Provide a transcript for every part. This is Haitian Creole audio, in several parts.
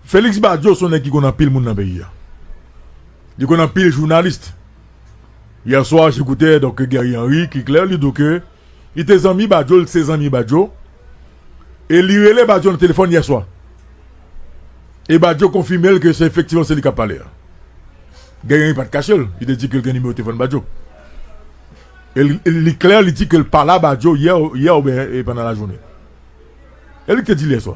Felix Badio son nèg ki konn anpil moun nan peyi a. Li konn anpil journaliste. Hier soir, j'écoutais donc Guerrier Henry qui clair li dou ke li te zanmi Badio, li se zanmi Badio. E li rele Badio nan telefòn hier soir. E Badio konfime l ke se efektivman se li k ap pale a. Guerrier Henry pa t kache l, li te di ke l gen nimewo telefòn Badio. Li klè li di ke l pale a Badio yè oubyen pandan lajounen. E li k te di l yèswa.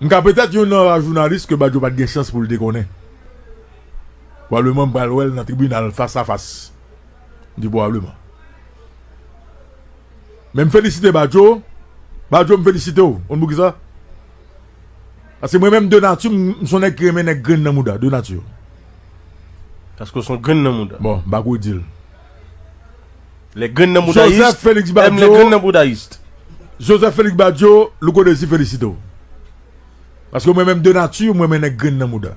M ka petèt youn nan ra jounalis ke Badio pa t gen chans pou l te konnen. Pwobableman m pral wè l nan tribinal fas a fas. M di pwobableman. Men m felisite Badio. Badio m felisite w. Konn poukisa? Paske mwen menm de nati m son nèg ki renmen nèg grenn nan mouda. De nati. Paske w son grenn nan mouda. Bon, m pa ko di l. Les grenn nan mouda ist aiment les grenn nan bouda ist. Joseph Felix Badio, Louko Désir felisite w. Paske mwen menm de nati, m renmen nèg grenn nan mouda.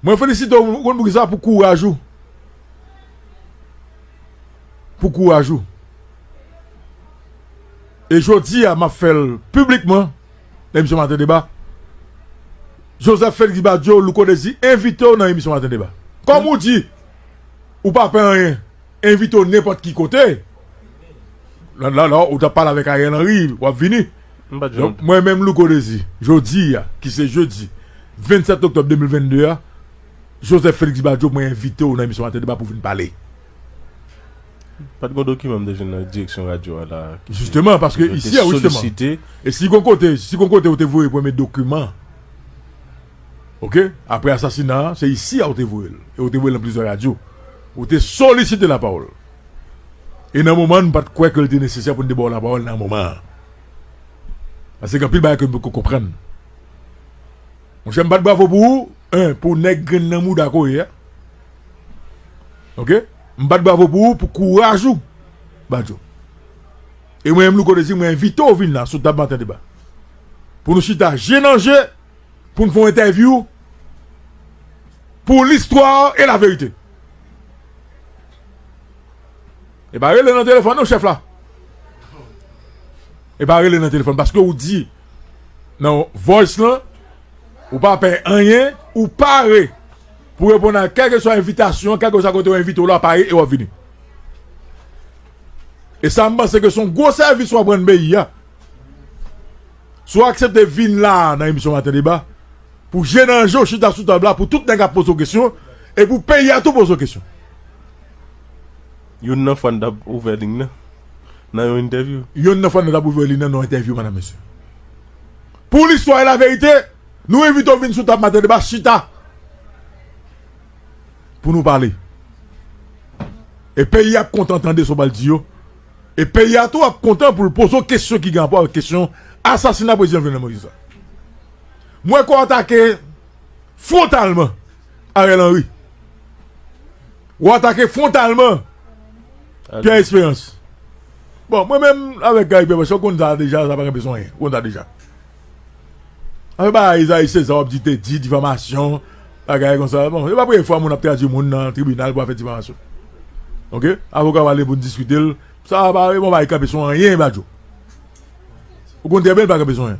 Mwen felisite w, ou konn poukisa? Pou kouraj ou. Pou kouraj ou. E jodi a m ap fè l piblikman emisyon maten deba Joseph Felix Badio Louko Dezi envite w nan emisyon maten deba kòm ou di ou pa pè anyen envite w nenpòt ki kote ou ta pale avèk Ariel Henry wap vini mwen menm Louko Dezi jodi a ki se jodi 27 oktòb 2022 a Joseph Felix Badio mwen envite w nan emisyon maten deba pou vin pale Pat gon dokiman m te jwenn nan direksyon radyo a la ki te Jisteman, paske isi a wi seman. E si gon kote, si gon kote ou te voye premye dokiman ok, apre asasina a, se isi a ou te voye l e ou te voye l nan plizyè radyo. Ou te solisite lapawòl. E nan moman an nou pat kwè ke l te nesesè pou nou te ba w lapawòl nan moman an. Paske gen anpil bagay ke nou poko konprann. Monchè m bat bravo pou ou hein pou nèg grenn nan mouda ko ye a ok m bat bravo pou ou pou kouraj ou badjo e mwen menm louko te di mwen envite w vin la sou tab maten deba pou nou chita je nan je pou n fè yon entèvyou pou listwa e laverite e pa rele nan telefòn non chèf la e pa rele nan telefòn paske ou di nan voice lan, ou pa pè anyen, ou pare pou reponn a kèlkeswa envitasyon, kèlkeswa kote yo envite w la, pare e w ap vini. E sa m panse ke se yon gwo sèvis w ap rann peyi a, si w aksepte vin la a nan emisyon Maten Deba, pou je nan je w chita sou tab la, pou tout nèg ap poze w kesyon, e pou peyi a tou poze w kesyon. Youn nan fan dap ouvè lign nan nan yon entèvyou. Youn nan fan nan dap ouvè lign nan nan yon entèvyou madam mesye. Pou listwa e laverite nou envite w vin sou tab maten deba chita pou nou pale. E peyi ap kontan tande sa w pral di yo e peyi a tou ap kontan pou l poze w kesyon ki gen rapò avèk kesyon asasina prezidan Jovenel Moïse la. M wè ke w atake fwontalman Ariel Henry. Ou atake fwontalman Pierre Esperance. Bon, mwen menm avèk Guy Pierre, ou konn sa deja, sa pa gen bezwen anyen. Ou konn sa deja. Afè pa Esaïe César w ap di te di, difamasyon, bagay kon sa. Bon, se pa premye fwa moun ap tradui moun nan tribinal pou afè difamasyon. Ok? Avoka w ale pou n diskite l. Sa pa, mwen pa gen kanpe sou anyen Badio. Ou konn trè byen l pa gen kanpe sou anyen.